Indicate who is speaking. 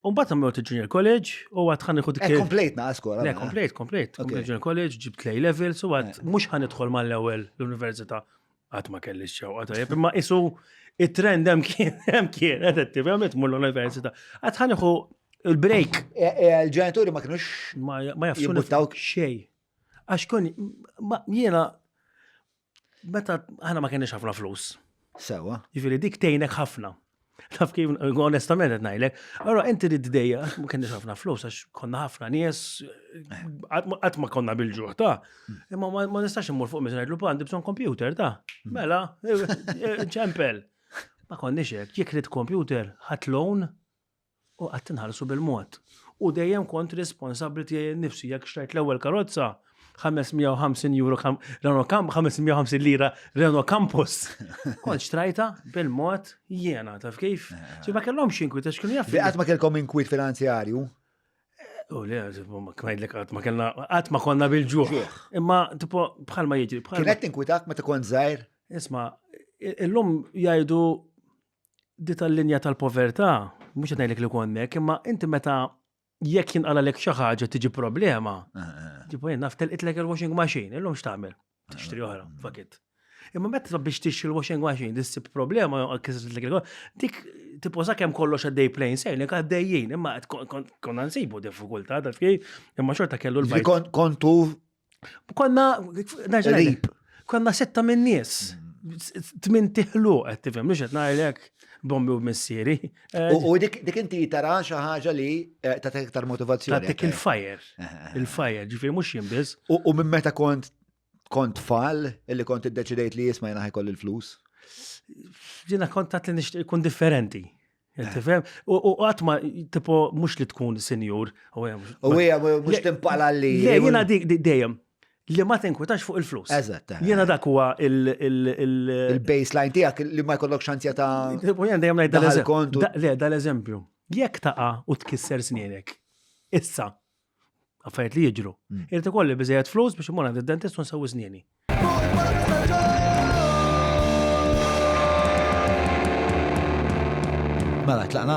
Speaker 1: U mbagħad għamlu il-Junior College u għad ħan iħu dik. Eh, komplejt naqas skola. Le,
Speaker 2: komplejt, komplejt.
Speaker 1: Komplejt Junior College, ġibt lej level, so għad eh. mhux ħan idħol mal-ewwel l-università għad ma kellix xew għad imma isu it-trend hemm kien hemm kien qed attivament mur l-università. Għad ħan iħu il-break. E, e, il-ġenituri
Speaker 2: ma kienux ma jafxu
Speaker 1: xej. Għax kun jiena Meta aħna ma kenniex ħafna flus. Sewa. Ġifieri
Speaker 2: dik tgħinek
Speaker 1: ħafna. Taf kif, onestament qed ngħidlek, allora inti rid dejja ma kenniex ħafna flus għax konna ħafna nies qatt ma konna bil-ġuħ ta' imma ma nistax immur fuq miżin ngħidlu għandi bżonn kompjuter ta' mela ċempel. Ma konniex hekk, jekk rid kompjuter ħadd loan U qatt inħarsu bil-mod. U dejjem kont responsabbli tiegħi nnifsi jekk xtrajt l-ewwel karozza 550 euro Renault Camp 550 lira Renault Campus. Kont xtrajta bil-mod jiena taf kif. Ġi ma kellhom xinkwit għax kienu jaf. Qatt ma kellkom inkwit
Speaker 2: finanzjarju? U
Speaker 1: le, kmajdlek għat ma kellna, għat ma konna bil-ġuħ. Imma, tipo, bħal ma jġri. Kienet tinkwitak ma tkun
Speaker 2: zaħir? Isma,
Speaker 1: illum jajdu di tal-linja tal-povertà, mhux qed ngħidlek li konnek, imma inti meta jekk jinqala lek xi ħaġa tiġi problema, eh, eh. ġibu jien naf telqitlek il-washing machine, illum x'tagħmel? Tixtri oħra, eh. fakit. Imma meta biex tixtri l-washing machine, dissib problema jew kisritlek il dik tiposa kemm kollox għaddej plain sailing għaddejjin, imma konna nsibu diffikultà ta' fej, imma xorta kellu l-bajt. Kontu
Speaker 2: Konna,
Speaker 1: rib, konna setta minn nies. Tmin tiħlu, għed tifem, mux għed najlek bombi u missiri. U
Speaker 2: dik inti tara xi ħaġa li eh, ta' iktar motivazzjoni. Ta' dik il-fire. Eh,
Speaker 1: eh, il-fire, ġifiri mux jimbiz. U minn meta kont
Speaker 2: kont fall illi kont id-deċidejt li jisma jena ħajkoll il-flus?
Speaker 1: Ġina kontat li nishtiq kun differenti. Eh. Tifhem? U qatt ma tipo mhux li tkun sinjur. U hija
Speaker 2: mhux timpala li. Le, jiena dik dejjem
Speaker 1: li ma tinkwitax fuq il-flus. Eżatt. Eh. Jiena dak huwa il-baseline
Speaker 2: tiegħek li ma jkollok xanzja ta' U jien dejjem ngħid
Speaker 1: dal-eżempju. Le, dal-eżempju. Jekk taqa' u tkisser snienek. Issa, affarijiet li jiġru. Mm. Irrid ikolli biżejjed flus biex imur għand id-dentist u nsewwi żnieni. Mela,
Speaker 2: tlaqna?